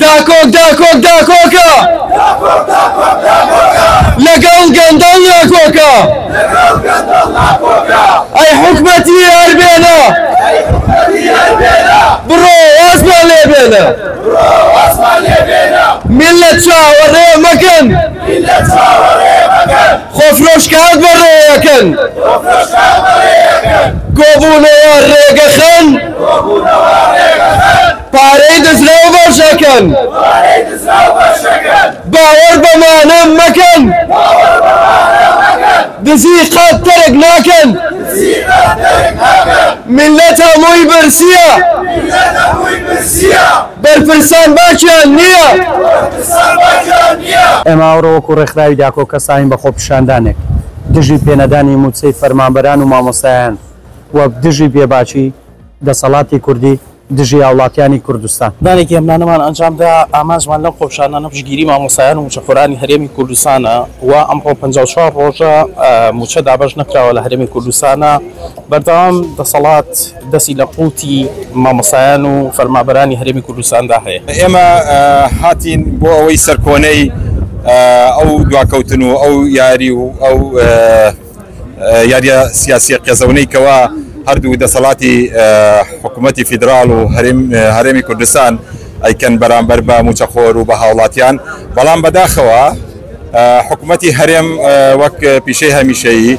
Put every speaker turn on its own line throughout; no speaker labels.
داکۆک داکۆک داکۆکە لەگەڵ گەندەڵ ناکۆکە ئەی حکومەتی هەربێنە بڕۆ ئاسمان لێ بێنە ملت چاوەڕێ مەکەن خۆفرۆش کار بە ڕێیەکەن. کۆبوونەوە ڕێگەخەن. پارەی دزراو بەشەکەن. باوەڕ بە مانە مەکەن. دزی قەت تەرک ناکەن. میللەت هەمووی برسییە. بەرپرسان باکیان
نییە. ئێمە ئەوڕۆ وەکو ڕێکخراوی داکۆ کەساین بە خۆپیشاندانێک دژی پێنەدانی مووچەی فەرمانبەران و مامۆستایان و دژی بێباکی دەسەڵاتی کوردی دژی هاوڵاتیانی کوردستان. دانێکی هێمنانەمان
ئەنجام دا، ئامانجمان لەم خۆپیشاندانە پشتگیری مامۆستایان و مووچەخۆرانی هەرێمی کوردستانە و ئەمڕۆ پەنجا و چوار ڕۆژە مووچە دابەش نەکراوە لە هەرێمی کوردستانە بەردەوام دەسەڵات. دەستی لە قوڵتی مامۆستایان و فەرمابەرانی هەرێمی کوردستاندا هەیە. ئێمە
هاتین بۆ ئەوەی سەرکۆنەی ئەو دواکەوتن و ئەو یاری و ئەو یاریە سیاسیە قێزەونەی کەوا هەردوو دەسەڵاتی حکومەتی فیدراڵ و هەرێمی کوردستان ئەیکەن بەرامبەر بە موچەخۆر و بە هاوڵاتیان، بەڵام بەداخەوە حکومەتی هەرێم وەک پیشەی هەمیشەیی،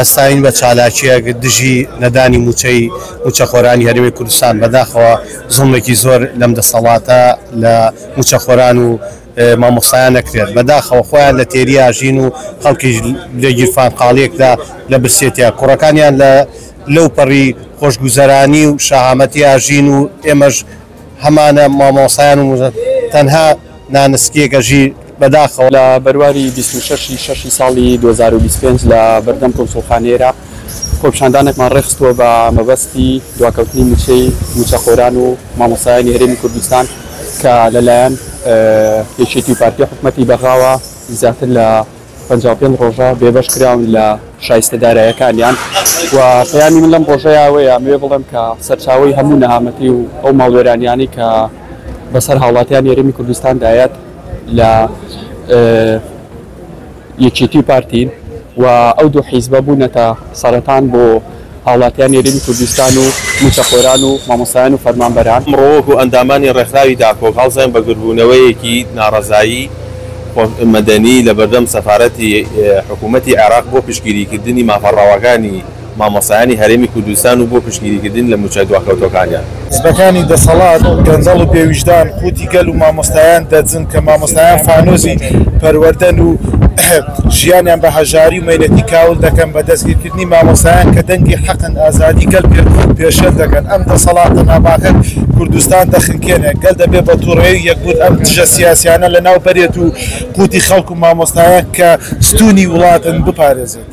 هەستاوین بە چالاکییەک دژی نەدانی مووچەی مووچەخۆرانی هەرێمی کوردستان، بەداخەوە زوڵمێکی زۆر لەم دەسەڵاتە لە مووچەخۆران و مامۆستایان ئەکرێت، بەداخەوە خۆیان لە تێری ئاژین و خەڵکیش لە گیرفانقاڵییەکدا لە برسێتییە کوڕەکانیان لەوپەڕی خۆشگوزەرانی و شەهامەتی ئاژین و ئێمەش هەمانە مامۆسایان و موزە تەنها نانسکیەکە ژیر بەداخەوە. لە بەرواری
بیست و شەش ی شەش ی ساڵی دوو هەزار و بیست و پێنج لە بەردەم کونسوڵخانەی عێراق خۆپیشاندانێکمان ڕێکخستووە بە مەبەستی دواکەوتنی مووچەی مووچەخۆران و مامۆستایانی هەرێمی کوردستان کە لەلایەن یەکێتی و پارتی حکومەتی بەغاوە زیاتر لە پەنجا و پێنج ڕۆژە بێبەش کراون لە شایستە دارایەکانیان و پەیامی من لەم ڕۆژەیا ئەوەیە ئەمەوێ بڵێم کە سەرچاوەی هەموو نەهامەتی و ئەو ماڵوێرانیانەی کە بەسەر هاوڵاتیانی هەرێمی کوردستان دایەت لە یەکێتی و پارتین و ئەو دوو حیزبە بوونەتە سەرەتان بۆ هاوڵاتیانی هەرێمی کوردستان و مووچەخۆران و مامۆستایان و فەرمانبەران. ئەمڕۆ وەکو ئەندامانی
ڕێکخراوی داکۆک هەڵساین بە گردبوونەوەیەکی ناڕەزایی مەدەنی لە بەردەم سەفارەتی حکوومەتی عێراق بۆ پشتگیریکردنی مافە ڕەواکانی مامۆستایانی هەرێمی کوردستان و بۆ پشتگیریکردن لە مووچە دواکەوتووەکانیان. حزبەکانی
دەسەڵات گەندەڵ و بێ ویژدان قوتی گەل و مامۆستایان دەدزن کە مامۆستایان فانۆسی پەروەردەن و ژیانیان بە هەژاری و مەینەتی کاول دەکەن بە دەستگیرکردنی مامۆستایان کە دەنگی حەقن ئازادی گەل پێ پێشێل دەکەن ئەم دەسەڵاتە ناپاکە کوردستان دەخنکێنێ گەل دەبێ بە توڕەیی یەکبوون ئەم دژە سیاسیانە لەناو بەرێت و قوتی خەڵک و مامۆستایان کە ستونی وڵاتن بپارێزێت.